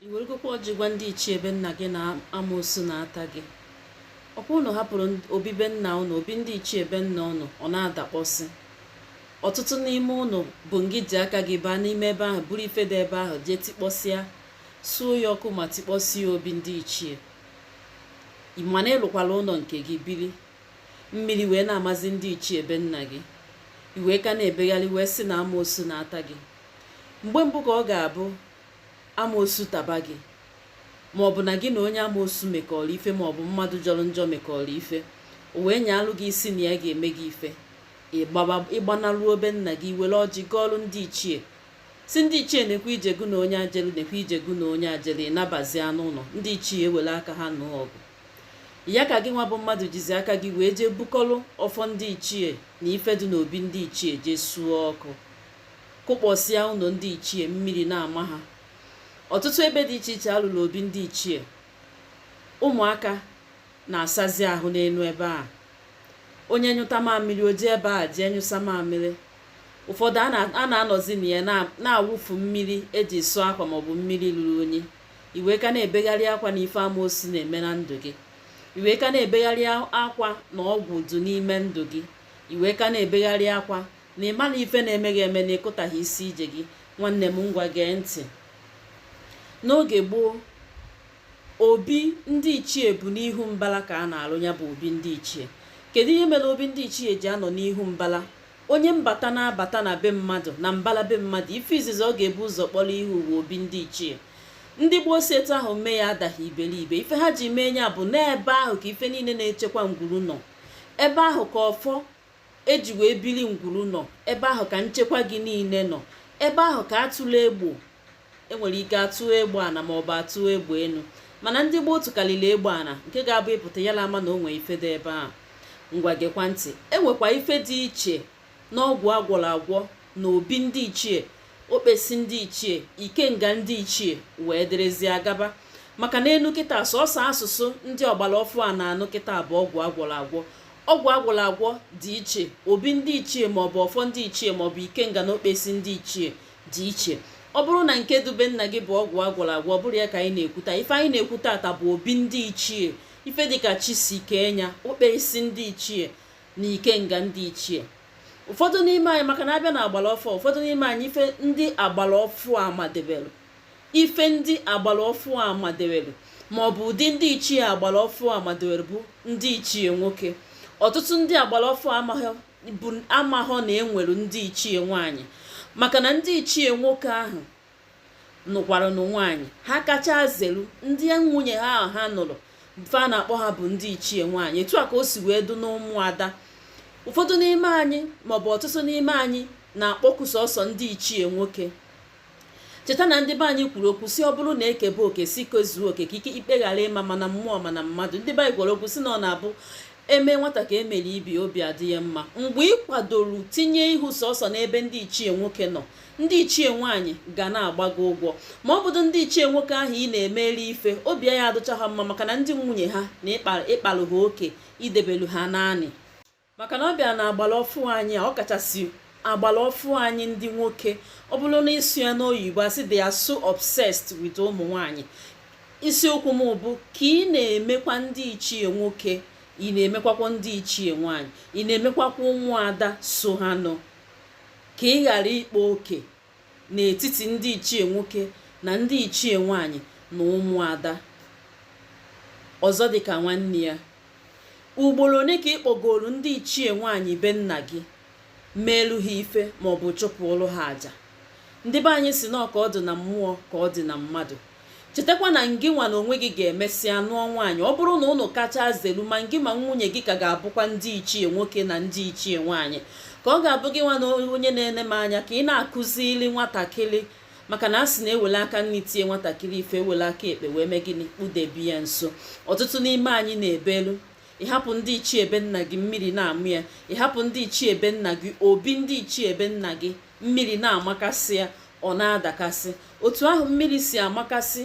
i weregokwa ọjị gwa ndị ichie be nna gị na amoosu na-ata gị ọ kwa ụnụ hapụrụ obi be nna ụnụ obi ndị ichie be nna ụnụ ọ na-adakpọsị ọtụtụ n'ime ụnụ bụ ngị ji aka gị baa n'ime ebe ahụ buru ife dị ebe ahụ jee tikpọsịa suo ya ọkụ ma tikpọsịa obi ndị ichie mana ị lụkwala ụnọ nke gị biri mmiri wee na-amazi ndị ichie be nna gị i wee ka na-ebegharị wee sị na amoosu na-ata gị mgbe mbụ ka ọ ga-abụ amoosu taba gị ma ọ bụ na gị na onye amoosu mekọrọ ife ma ọ bụ mmadụ jọrọ njọ mekọrọ ife o wee nyaalụ gị isi na ya ga-eme gị ife ị gbanaruo be nna gị were ọjị gọọlụ ndị ichie sị ndị ichie nekwe ije gụ na onye a jelu nekwe ije gụ na onye a jelu ị nabazia n'ụnọ ndị ichie ewere aka ha nụọ ọgụ ya ka gị nwa bụ mmadụ jizi aka gị wee jee bukọlụ ọfọ ndị ichie na ife dị n'obi ndị ichie jee suo ọkụ kụkpọsịa ụnọ ndị ichie mmiri na-ama ha ọtụtụ ebe dị iche iche a lụrụ obi ndị ichie ụmụaka na-asazi ahụ n'enu ebe a onye nyụta mamịrị o jee ebe a jee nyụsa mamịrị ụfọdụ a na-anọzi na ya na-awụfu mmiri eji sụọ akwa maọbụ mmiri ruru unyi i wee ka na-ebegharị akwa na ife amoosu na-eme na ndụ gị i wee ka na-ebegharị akwa na ọgwụ dụ n'ime ndụ gị i wee ka na-ebegharị akwa na ị ma na ife na-eme gị eme na ị kụtaghị isi ije gị nwanne m ngwa gee ntị n'oge gboo obi ndị ichie bụ n'ihu mbala ka a na-alụ ya bụ obi ndị ichie kedu ihe mere obi ndị ichie ji anọ n'ihu mbala onye mbata na-abata na be mmadụ na mbala be mmadụ ife izizi ọ ga-ebu ụzọ kpọrọ ihu bụ obi ndị ichie ndị gboo si etu ahụ mee ya adaghị iberibe ife ha ji mee ya bụ na ebe ahụ ka ife niile na-echekwa ngwuru nọ ebe ahụ ka ọfọ eji wee bili ngwuru nọ ebe ahụ ka nchekwa gị niile nọ ebe ahụ ka a tụlụ egbo enwere ike atụ egbo ana ma ọ bụ atụ egbo enu mana ndị gboo tụkarịrị egbo ana nke ga-abụ ị pụta ya ama na o nwee ife dị ebe ahụ ngwa gekwa ntị enwekwa ife dị iche n'ọgwụ agwọrọ agwọ na obi ndị ichie okpesi ndị ichie ikenga ndị ichie wee dịrịzia gaba maka na enu kịta sọsọ asụsụ ndị ọgbara ọfụ a na-anụ kịta bụ ọgwụ agwọrọ agwọ ọgwụ agwọrọ agwọ dị iche obi ndị ichie maọbụ ọfọ ndị ichie maọbụ ikenga na okpesi ndị ichie dị iche ọ bụrụ na nke dụ be nna gị bụ ọgwụ agwọrọ agwọ ọ bụrọ ya ka anyị na-ekwu ta ife anyị na-ekwu tata bụ obi ndị ichie ife dịka chi si kee nya okpesi ndị ichie na ikenga ndị ichie ụfọdụ n'ime anyị maka na a bịa na agbara ọfụ a ụfọdụ n'ime anyị ife ndị agbara ọfụ a madebere ife ndị agbara ọfụ a madewere ma ọ bụ ụdị ndị ichie agbara ọfụ a madewere bụ ndị ichie nwoke ọtụtụ ndị agbara ọfụ amaghọ na enwere ndị ichie nwaanyị maka na ndị ichie nwoke ahụ nụkwaranụ nwaanyị ha kacha zelu ndị nwunye ha ahụ ha nụrụ ife a na-akpọ ha bụ ndị ichie nwaanyị etu a ka o si wee du n'ụmụada ụfọdụ n'ime anyị maọbụ ọtụtụ n'ime anyị na-akpọku sọsọ ndị ichie nwoke cheta na ndị be anyị kwuru okwu si ọ bụrụ na ekebe oke si kezuo oke ka ike ikpe ghara ịma ma na mmụọ ma na mmadụ ndị be anyị kwuru okwu si na ọ na-abụ emee nwata ka emere ibe ya obi adị ya mma mgbe ị kwadoro tinye ihu sọsọ n'ebe ndị ichie nwoke nọ ndị ichie nwaanyị ga na-agba gị ụgwọ ma ọ bụdụ ndị ichie nwoke ahụ ị na-emeru ife obi aya adụcha ha mma maka na ndị nwunye ha na ị kpalụ ha oke i debelu ha naanị maka na ọ bịara na agbara ọfụ anyị a ọ kachasị agbara ọfụ anyị ndị nwoke ọ bụrụ na ịsụ ya n'oyibo asị they are so obsessed with ụmụ nwanyị isiokwu m bụ ka ị na-emekwa ndị ichie nwoke ị na-emekwakwa ndị ichie nwanyị ị na-emekwakwa ụmụada so ha nọ ka ị ghara ịkpa oke n'etiti ndị ichie nwoke na ndị ichie nwaanyị na ụmụada ọzọ dị ka nwanne ya ugboro ole ka ị kpọgoro ndị ichie nwaanyị be nna gị meelu ha ife maọbụ chụpụrụ ha aja ndị be anyị si na ọ ka ọ dị na mmụọ ka ọ dị na mmadụ chetakwa na ngị nwa na onwe gị ga-emesịa nụọ nwaanyị ọ bụrụ na ụnụ kacha zelu ma ngị ma nwunye gị ka ga-abụkwa ndị ichie nwoke na ndị ichie nwaanyị ka ọ ga-abụ gị nwa na onye na-ene m anya ka ị na-akụzili nwatakịrị maka na a sị na ewele aka nri tie nwatakịrị ife ewele aka ekpe wee mee gịnị kpudebe ya nso ọtụtụ n'ime anyị na-ebelu ị hapụ ndị ichie be nna gị mmiri na-ama ya ị hapụ ndị ichie be nna gị obi ndị ichie be nna gị mmiri na-amakasị ya ọ na-adakasị otu ahụ mmiri si amakasị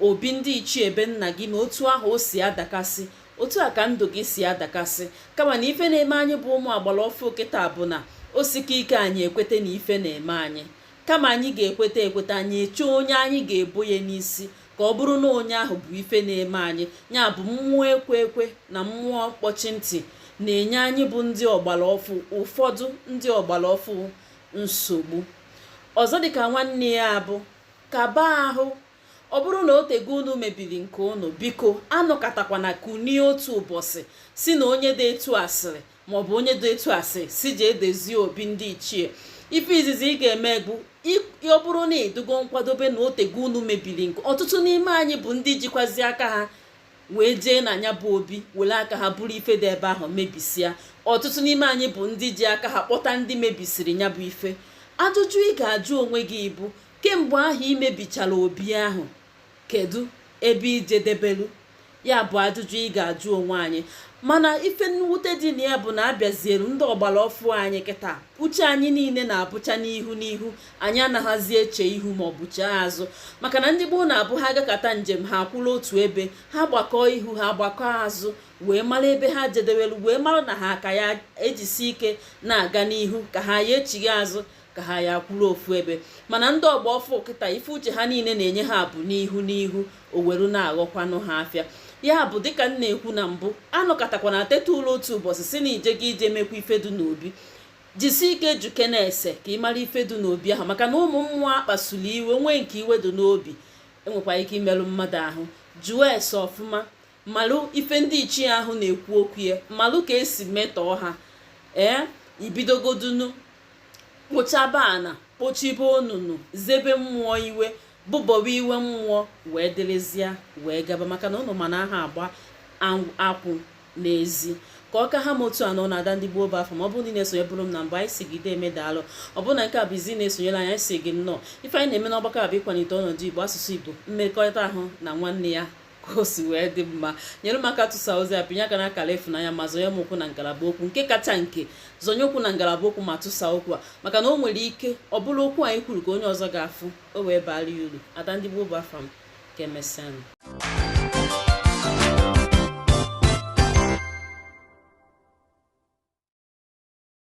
obi ndị ichie be nna gị na otu ahụ o si adakasị otu a ka ndụ gị si adakasị kama na ife na-eme anyị bụ ụmụ agbara ọfụ kịta bụ na o sike ike anyị ekweta na ife na-eme anyị kama anyị ga-ekweta ekweta anyị echee onye anyị ga-ebo ya n'isi ka ọ bụrụ na onye ahụ bụ ife na-eme anyị ya bụ mmụọ ekwe ekwe na mmụọ mkpọchi ntị na-enye anyị bụ ndị ọgbara ọfụ ụfọdụ ndị ọgbara ọfụ nsogbu ọzọ dịka nwanne ya bụ kaba ahụ ọ bụrụ na o tego unu mebiri nke unu biko anọkatakwana kunie otu ụbọchị si na onye dị etu asịrị maọbụ onye dị etu asị si jee dezie obi ndị ichie ife izizi ị ga-eme bụ ọ bụrụ na ịdụgo nkwadobe na o tego unu mebiri nke ọtụtụ n'ime anyị bụ ndị jikwazi aka ha wee jee na ya bụ obi were aka ha buru ife dị ebe ahụ mebisịa ọtụtụ n'ime anyị bụ ndị ji aka ha kpọta ndị mebisiri ya bụ ife ajụjụ ị ga-ajụ onwe gị bụ kemgbe ahụ i mebichara obi ahụ kedu ebe i jedebelu ya bụ ajụjụ ị ga-ajụ onwe anyị mana ife mwute dị na ya bụ na a bịazielu ndị ọgbara ọfụ anyị kịta uche anyị niile na-abụcha n'ihu n'ihu anyị anaghịzi eche ihu ma ọ bụ chee azụ maka na ndị gboo na-abụ ha gakata njem ha akwụrụ otu ebe ha gbakọọ ihu ha gbakọọ azụ wee mara ebe ha jedebelu wee mara na ha ka ya ejisi ike na-aga n'ihu ka ha ya echigha azụ ka ha ya akwụrụ ofu ebe mana ndị ọgba ọfụ kịta ife uche ha niile na-enye ha bụ n'ihu n'ihu o weru na-aghọkwanụ ha afịa ya bụ dịka m na-ekwu na mbụ anọkatakwana teta ụla otu ụbọchị sị na ije gị ije mekwa ife dị n'obi jisi ike jụkene ese ka ị mara ife dị n'obi ahụ maka na ụmụ mmụọ a kpasuru iwe nwee nke iwe dị n'obi enwekwa ike imerụ mmadụ ahụ jụọ ese ọfụma malụ ife ndị ichie ahụ na-ekwu okwu ya malụ ka e si metọọ ha ee ibidogodunu kpochaba ana kpochibe onunu zebe mmụọ iwe bụbọwa iwe mmụọ wee dịrịzịa wee gaba maka na ụnụ ma na aha agba akwụ n'ezi ka ọ ka ha m otu a n'ọnụ ada ndị gboo bụ afa m ọ bụrụ na ị na-esonyeburu m na mbụ anyị sị gị deeme daalụ ọ bụrụ na nke a bụ izizi ị na-esonyere anyị sị gị nnọọ ife anyị na-eme n'ọgbakọ a bụ ịkwalite ọnọdụ igbo asụsụ igbo mmekọrịta ahụ na nwanne ya ka o si wee dị mma nyere m aka tụsa ozi a pịnye aka na akara ịfụnanya ma zọnye m ụkwụ na ngalaba okwu nke kacha nke zọnye ụkwụ na ngalaba okwu ma tụsa okwu a maka na o nwere ike ọ bụrụ okwu anyị kwuru ka onye ọzọ ga-afụ o wee baara ya uru ada ndị gboo bụ afa m ka emesịa